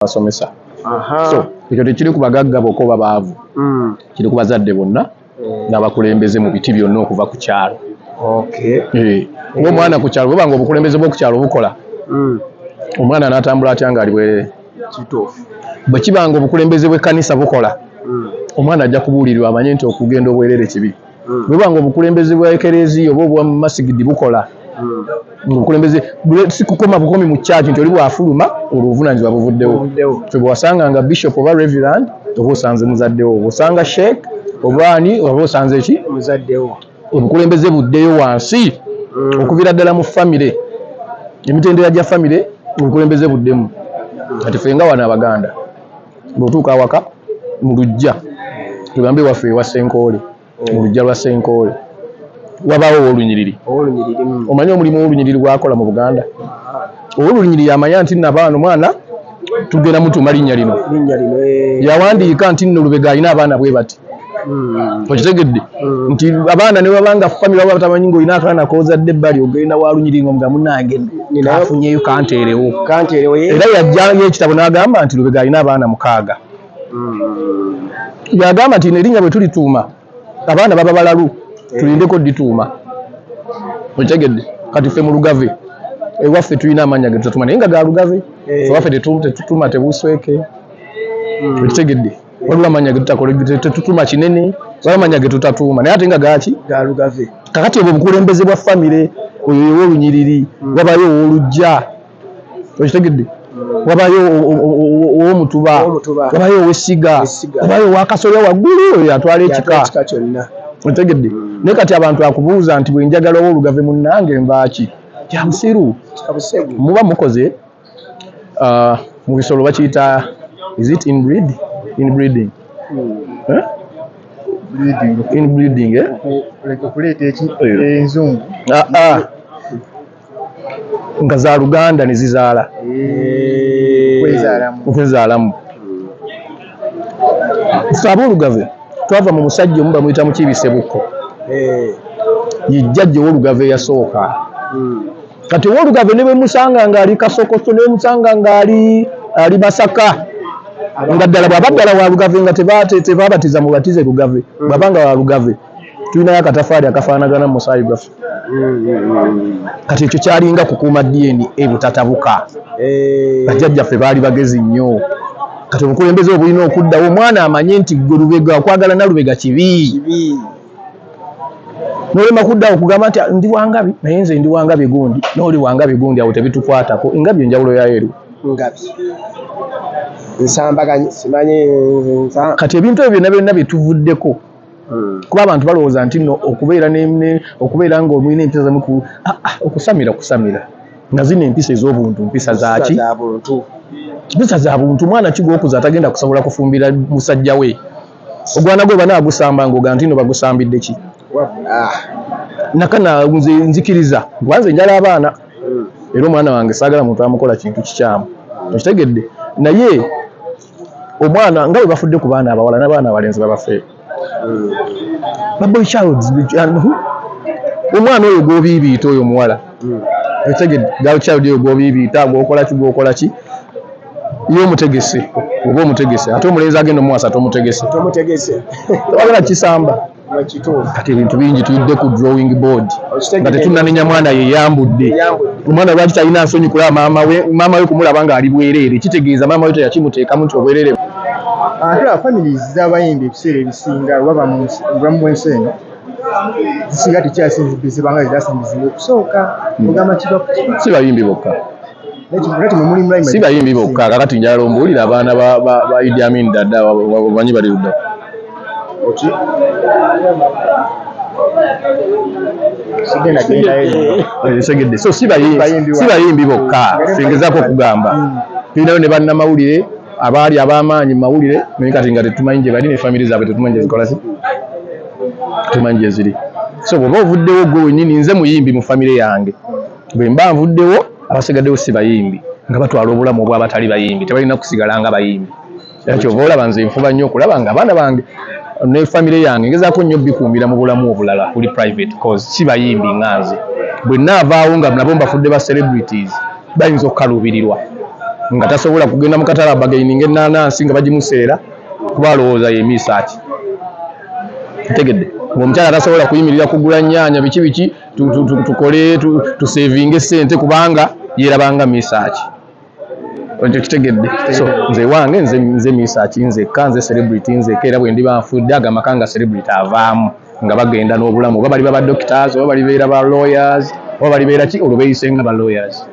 basomesa so ekyo tekiri ku bagagga bokka oba baavu hmm. kiri ku bazadde bonna hmm. n'abakulembeze mu biti byonna okuva ku kyalo eh, ngaomwana ku kyalo bwebanga obukulembeze bwoku kyalo bukola hmm. omwana anatambula atya nga ali bwerere bwe kibanga obukulembeze bw'ekkanisa bukola omwana ajja kubuulirirwa amanye nti okugenda obwerere kibi hmm. bwebuba nga obukulembeze bwa ekereziya oba obwa masigidi bukola hmm. obukulembeze sikukoma bukomi mu kyaki nti oli bwafuluma olwo obuvunanyizibwa buvuddewo kyebwewasanga nga bishop oba reverand oba osanze muzaddewo osanga sheik oba ani oba osanze ki muzaddewo obukulembeze buddeyo wansi hmm. okuvira ddala mu famire emitendera gya famire obukulembeze buddemu kati fenga wano abaganda Bw'otuuka awaka mu luggya, tugambe ewaffe ewa Ssenkoole, mu luggya lwa Ssenkoole wabaawo Ow'olunyiriri. Omanyi omulimu Ow'olunyiriri gw'akola mu Buganda? Ow'olunyiriri amanya nti nno abaana, omwana tugenda mutuuma linnya lino. Yawandiika nti nno Lubega alina abaana bwe bati. mm. okitegedde mm. nti abaana ne babanga famire baba batamanyi ngaolina akaana kozadde ebbali ogenda walunyiringa omuga munange afunyeyo kanteerewo era yajjanga ekitabo n'agamba nti lubega alina abaana mukaaga mm. yagamba nti nerinnya bwe tulituuma abaana baba balalu eh. tulindeko dituuma okitegedde kati ffe mu lugave ewaffe tulina amaanyi agetutatuma naye nga ga lugave eh. ewaffe tetutuma tebusweke okitegedde wabula manya getutatuma kinene zaba manya getutatuuma naye ate nga gaki galugave kakati obwo obukulembeze bwa famire oyo yewolunyiriri hmm. wabayo owolujja okitegedde hmm. wabayo owomutuba wabayo owesiga wabayo owakasolya waggulu oyo atwala ekika otegedde hmm. naye kati abantu akubuuza nti bwenjagala owolugave munange nvaaki kyabusiru muba mukoze Ah mubisolo bakiyita is it in breed in breeding eh in breeding eh aah nga za luganda ne zizaala okwezaalamu ffe ab'olugave twava mu musajja omu bamuyita Mukiibi Ssebukko ye jjajja ow'olugave eyasooka. kati owolugave ne bwemusanga ngaali kasokoso ne bwemusanga ngaali ali masaka nga ddala bwaba ddala wa lugave nga tebabatiza mubatize lugave mm. bwaba nga wa lugave tulinayo akatafaali akafaanagana musaayi gwaffe mm. kati ekyo kyalinga kukuuma dna ebutatabuka eh. bajjajjaffe baali bagezi nnyo kati obukulembeze obulina okuddawo omwana amanye nti gwe lubega okwagala nalubega kibi nolema kuddawo kugamba nti ah, ndi wangabi naye nze ndi wangabi gundi noli wangabi gundi awo tebitukwatako engabi enjawulo yayo eri ngabi nsambaganyi simanyi kati ebintu ebyo byonna byonna byetuvuddeko hmm. kuba abantu balowooza nti no okubeera okubeera nga omulina empisa zamu ah, ah, okusamira kusamira nga zino empisa ez'obuntu mpisa zaki mpisa za buntu mwana kigwokuza atagenda kusobola kufumbira musajja we Ogwana gwe bana agusamba ngoga ntino bagusambidde ki nakana nze nzikiriza kuba nze njala abaana era omwana wange sagala muntu amukola kintu kikyamu okitegedde naye omwana nga webafudde ku baana abawala nabaana abalenzi babafe baboy child omwana oyo gwobiibiita oyo omuwala okitegedde girl child oyo gwobiibiita gwokola ki gwokola ki. Ye omutegese oba omutegese ate omulenzi agenda omuwasa tomutegese tomutegese tewagala kisamba kati ebintu bingi tuyidde ku drawing board nga tetunanenya mwana yeyambudde omwana lwaki talina nsonyi kulaba maama we maama we kumulaba ng'ali bwereere kitegeeza maama we teyakimuteekamu nti obwereere ate a families z'abayimbi ebiseera ebisinga waba mu bulamu bw'ensi eno zisinga tekyasinzibizibanga zezasinzizibwa okusooka hmm. ogamba kiba si bayimbi bokka si bayimbi bokka kakati njala ombuulira abaana ba idi amin dada bamanyi bali ludda segedde so si bayimbi bokka singezako okugamba hmm. tulinayo ne bannamawulire abaali ab'amaanyi mu mawulire naye kati nga tetumanyi gye bali ne famire zaabwe tetumanyi gye zikola si tetumanyi gye ziri so bwoba ovuddewo gwe wenyini nze muyimbi mu famire yange Bwe mba nvuddewo, abasigaddewo si bayimbi nga batwala obulamu obw'abatali bayimbi. Tebalina kusigala nga bayimbi. Era ky'ova olaba nze nfuba nnyo okulaba nga abaana bange ne famire yange ngezaako nnyo obikuumira mu bulamu obulala obuli private coz si bayimbi nga nze. Bwe nnaavaawo nga nabo mbafudde ba celebrities bayinza okukaluubirirwa nga tasobola kugenda mu katale abagaininge ennaanansi nga bagimuseera kuba alowooza ye Misaaki. Otegedde? Ng'omukyala tasobola kuyimirira kugula nnyaanya biki biki. tukole tusevinge sente kubanga yerabanga misaki ekyo kitegedde so nze wange nze nze misaki nze ka nze celebrity nze kera bwe ndiba nfudde aga makanga celebrity avaamu nga bagenda n'obulamu oba bali baba doctors oba bali beera ba lawyers oba bali beera ki olwo beyisenga ba lawyers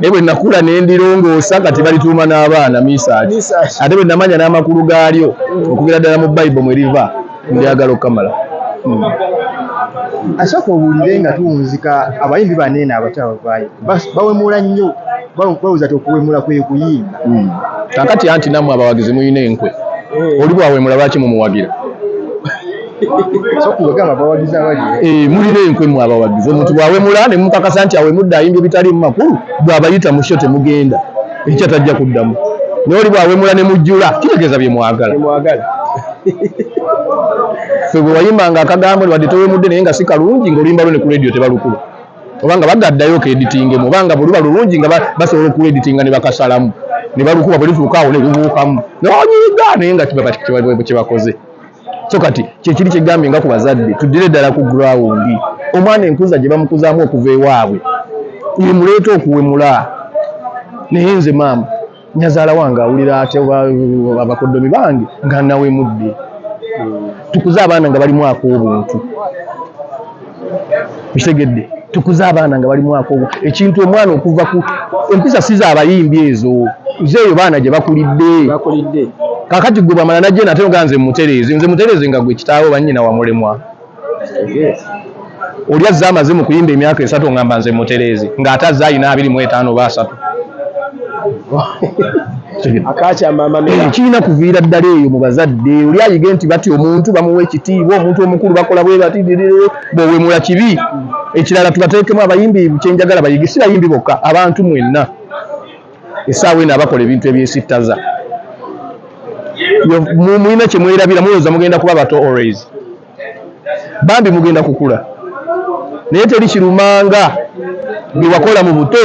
naye bwe nakula ne ndirongoosa kati balituuma n'abaana misaaki ate bwe namanya n'amakulu gaalyo mm. okugera ddala mu bayibo mwe riva ndyagala okukamala mm. asooka owulire nga tuwunzika abayimbi baneeno abakyabavaayo bawemula nnyo bawuza ti okuwemula kwe kuyimba mm. kakati anti nammwe abawagizi mulina enkwe eh. oli bwawemula lwaki mumuwagira Eh, mulira enkwe mu abawagizi omuntu bwawemula ne mumukakasa nti awemudde ayimba ebitaliimu makulu bw'abayita mu kyo temugenda ekikya tajja kuddamu naye oli bwawemula ne mujjula kitegeeza bye mwagala fe bwe wayimbanga akagambo wadde towemudde naye nga si kalungi ng'oluyimba lwo ne ku leediyo tebalukuba obanga bagaddayo keeditingemu obanga bwe luba lulungi nga basobola okuleeditinga ne bakasalamu ne balukuba bwe lutuuka awo ne lubuukamu nonyiga naye nga kyebakoze so kati kyekiri kyegambye nga ku bazadde tuddire ddala ku grawundi omwana enkuza gye bamukuzaamu okuva ewaabwe yemuleeta okuwemula naye nze maama nyazaala wange awulira atya abakodomi bange nga nawemudde tukuze abaana nga balimu ak'obuntu kitegedde tukuze abaana nga bali mwaka ogwo ekintu omwana okuva ku empisa si za abayimbi ezo nze eyo baana gye bakulidde kakati gwe bwamala najje nate ogaa nze mutereeze nze mutereeze nga gwe kitaawo bannyina wamulemwa oli azze amaze mu kuyimba emyaka esatu ngamba nze mutereeze ng'ate azze alina abiri mu etaano oba asatu Eh, kirina kuviira ddala eyo mu bazadde oli ayige nti batya omuntu bamuwa ekitiibwa omuntu omukulu bakola bwe bati bwewemula kibi ekirala tubateekemu abayimbi kyenjagala bayige si bayimbi bokka abantu mwenna esaawa eno abakola ebintu ebyesittaza mulina kyemwerabira mulowooza mugenda kuba bato always bambi mugenda kukula naye teri kirumanga byewakola mu buto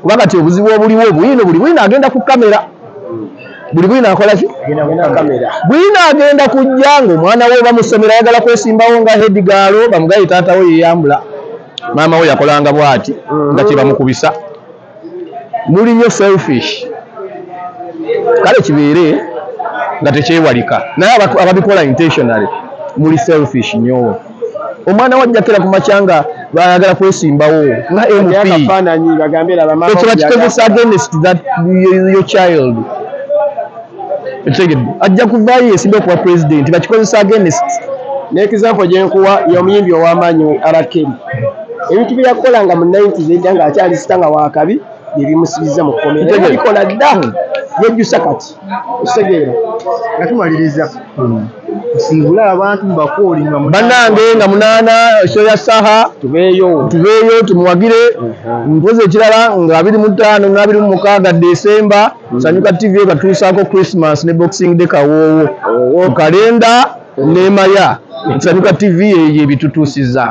kuba kati obuzibu obuliwo bwino buli bwino agenda ku kamera buli bwino akola ki bwino agenda kujja ngaomwana we bamusomero ayagala kwesimbawo nga hedigaalo bamugaye taatawo yeyambula maama we yakolanga bwati nga kyebamukubisa muli nyo selfish kale kibeere nga tekyewalika naye ababikola intentionally muli selfish nyo omwana wajjakira ku makya nga bayagala kwesimbawo nga mp ekyo bakikozesa against that your child ekitegedde ajja kuvaayo yesimbe okuba pulezidenti bakikozesa agenesi nekizampo gyenkuwa yomuyimbi owamaanyi we arakeri ebintu byeyakola nga mu 90 zedda nga akyali sita nga wakabi byebimusibiza mu komerabikola dda hmm. yejjusa kati okitegeera nga tumaliriza hmm. nsingula abantu mubakooli banange nga munaana ekyo ya saha tubeeyo tubeeyo tumuwagire mpozi ekirala nga abiri mu ttaano n'abiri mu mukaaga desemba Sanyuka TV ekatuusaako Christmas ne Boxing Day kawoowo, oh. kalenda n'emaya. Sanyuka TV eyo ebitutuusizzaako.